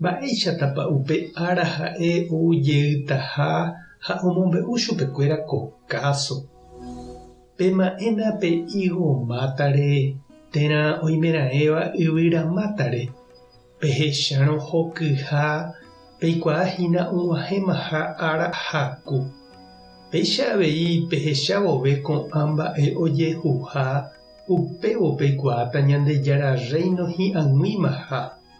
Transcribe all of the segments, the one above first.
Mba'éichatapa upe ára ha'e ou jeytaha ha omombe'u chupekuéra ko káso, Pema'ẽna pe ígo mátare térã oimeraẽva yvyra mátare, pehechárõ hokyha peikuaa hína og̃uahẽmaha ára haku. Péicha avei pehecha vove ko'ã mba'e ojehuha, upévo peikuaáta Ñandejára Rréino hi'ag̃uimaha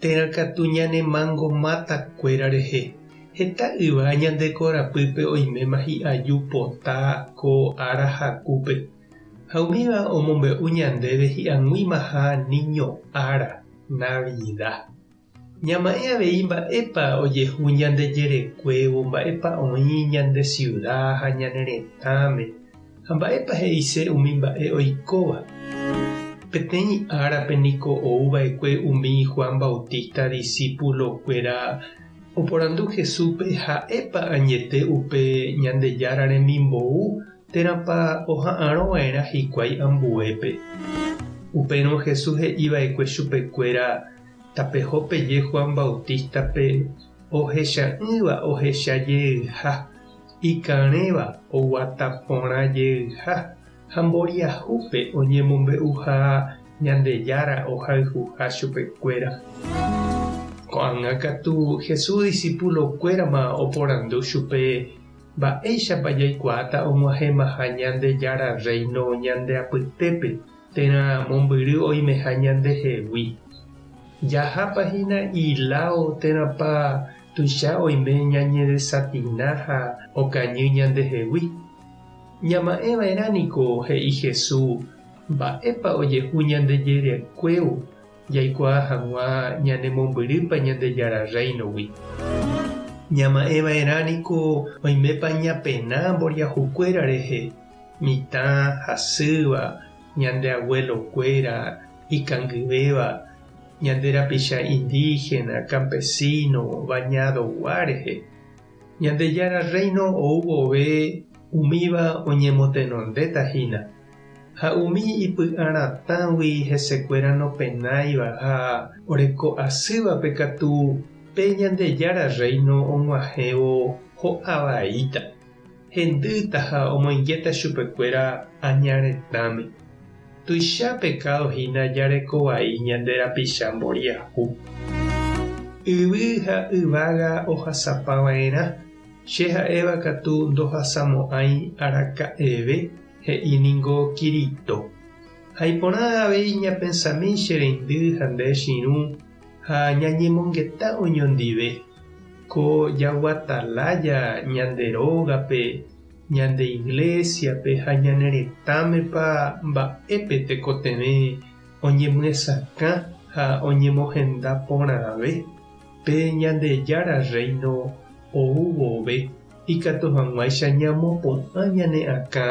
Térã katu ñanemango máta kuéra rehe. Heta yva ñande korapýpe oiméma hi'aju pota ko ára hakúpe. Ha umíva omombe'u ñandéve hi'ag̃uimaha niño ára, Navida. Ñama'ẽ avei mba'épa ojehu ñande jerekuévo, mba'épa oĩ ñande siuda ha ñane retãme. Ha mba'épa he'ise umi mba'e oikóva? Peteĩ árape niko ou va'ekue umi Juan Bautista disípulokuera oporandu Jesúspe ha'épa añete upe Ñandejára remimbou térãpa oha'arõ va'erã hikuái ambuépe. Upérõ Jesús he'i va'ekue chupekuéra tapeho peje Juan Bautístape ohecha'ỹva ohecha jeyha. ikarẽva oguata porã jeyha ha mboriahúpe oñemombe'uha Ñandejára ohayhuha chupekuéra. Ko'ág̃a katu Jesús disípulokuérama oporandu chupe mba'éichapa jaikuaáta og̃uahẽmaha Ñandejára Rréino ñande apytépe Térã mombyry oimeha ñandehegui. Jahápa hína iláo térãpa tuicha oime ñañedesafina ha okañy ñandehegui. Ñama'ẽva'erã niko he'i Jesús mba'épa ojehu ñande jerekuévo jaikuaa hag̃ua ñane mombyrýpa Ñandejára Rréinogui. Ñama'ẽva'erã niko oimépa ñapena mboriahukuéra rehe. Mitã hasýva, ñande aguelokuéra ikangyvéva, ñande rapicha indígena, campesino, bañadogua rehe. Ñandejára Rréino ou vove umíva oñemotenondéta hína, ha umi ipy'a ratãgui hesekuéra nopenáiva ha oreko asývape katu pe Ñandejára Rréino og̃uahẽvo ho'a vaíta. Hendýta ha omoingéta chupekuéra aña retãme. Tuicha pekádo hína jareko vai ñande rapicha mboriahu. Yvy ha yvága ohasapa va'erã, che ha'éva katu ndohasamo'ãi araka'eve, he'i ningo Kirito. Ha iporã avei ñapensami che reindy ha nde chirũ ha ñañemongeta oñondive ko jaguata lája ñande rógape, ñande iglésiape ha ñane retãmepa mba'épe tekotevẽ oñemyesakã ha oñemohenda porãve pe Ñandejára Rréino ou vove ikatu hag̃uáicha ñamopu'ã ñane akã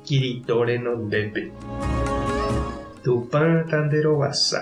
Kirito renondépe. Tupã tanderovasa.